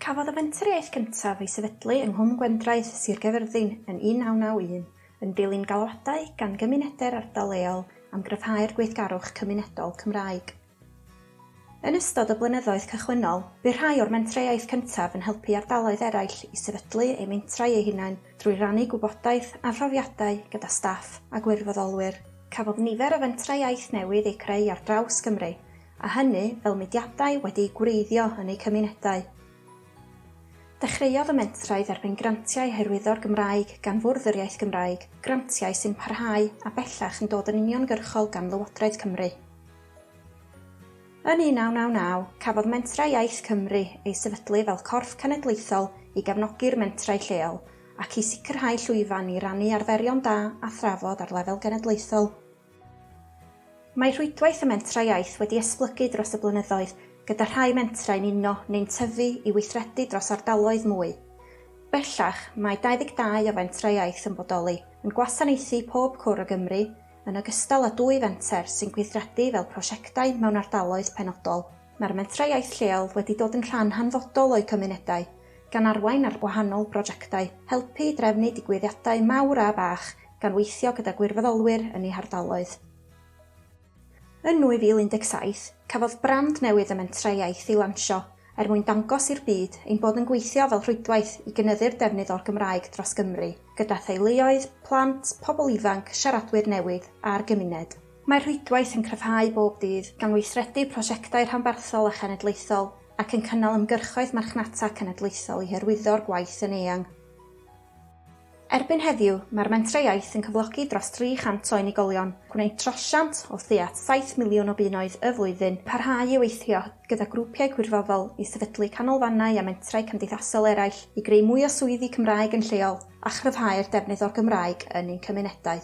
Cafodd y fenturiaeth gyntaf ei sefydlu yng Nghwm Gwendraeth, Sir Gaerfyrddin, yn 1991, yn dilyn galwadau gan gymunedau'r ardal leol am gryfhau'r gweithgarwch cymunedol Cymraeg. Yn ystod y blynyddoedd cychwynnol, bu rhai o'r mentreuaeth cyntaf yn helpu ardaloedd eraill i sefydlu eu mentrau eu hunain drwy rannu gwybodaeth a phrofiadau gyda staff a gwirfoddolwyr. Cafodd nifer o fentrau iaith newydd eu creu ar draws Cymru, a hynny fel mudiadau wedi'u gwreiddio yn eu cymunedau. Dechreuodd y mentrau dderbyn grantiau hyrwyddo'r Gymraeg gan Fwrdd yr Iaith Gymraeg, grantiau sy'n parhau a bellach yn dod yn uniongyrchol gan Lywodraeth Cymru. Yn 1999, cafodd Mentrau Iaith Cymru ei sefydlu fel corff cenedlaethol i gefnogi'r mentrau lleol ac i sicrhau llwyfan i rannu arferion da a thrafod ar lefel genedlaethol. Mae rhwydwaith y Mentrau Iaith wedi esblygu dros y blynyddoedd, gyda rhai mentrau'n uno neu'n tyfu i weithredu dros ardaloedd mwy. Bellach, mae 22 o Fentrau Iaith yn bodoli, yn gwasanaethu pob cwr o Gymru, yn ogystal â dwy fenter sy'n gweithredu fel prosiectau mewn ardaloedd penodol. Mae'r Mentrau Iaith lleol wedi dod yn rhan hanfodol o'u cymunedau, gan arwain ar wahanol brojectau, helpu i drefnu digwyddiadau mawr a bach, gan weithio gyda gwirfoddolwyr yn eu hardaloedd. Yn 2017, cafodd brand newydd y Mentrau Iaith ei lansio, er mwyn dangos i'r byd ein bod yn gweithio fel rhwydwaith i gynyddu'r defnydd o'r Gymraeg dros Gymru, gyda theuluoedd, plant, pobl ifanc, siaradwyr newydd a'r gymuned. Mae'r rhwydwaith yn cryfhau bob dydd, gan weithredu prosiectau rhanbarthol a chenedlaethol ac yn cynnal ymgyrchoedd marchnata cenedlaethol i hyrwyddo'r gwaith yn eang. Erbyn heddiw, mae'r Mentrau Iaith yn cyflogi dros 300 o unigolion, gwneud trosiant o tua 7 miliwn o bunnoedd y flwyddyn, parhau i weithio gyda grwpiau gwirfoddol i sefydlu canolfannau a mentrau cymdeithasol eraill i greu mwy o swyddi Cymraeg yn lleol a chryfhau'r defnydd o'r Gymraeg yn ein cymunedau.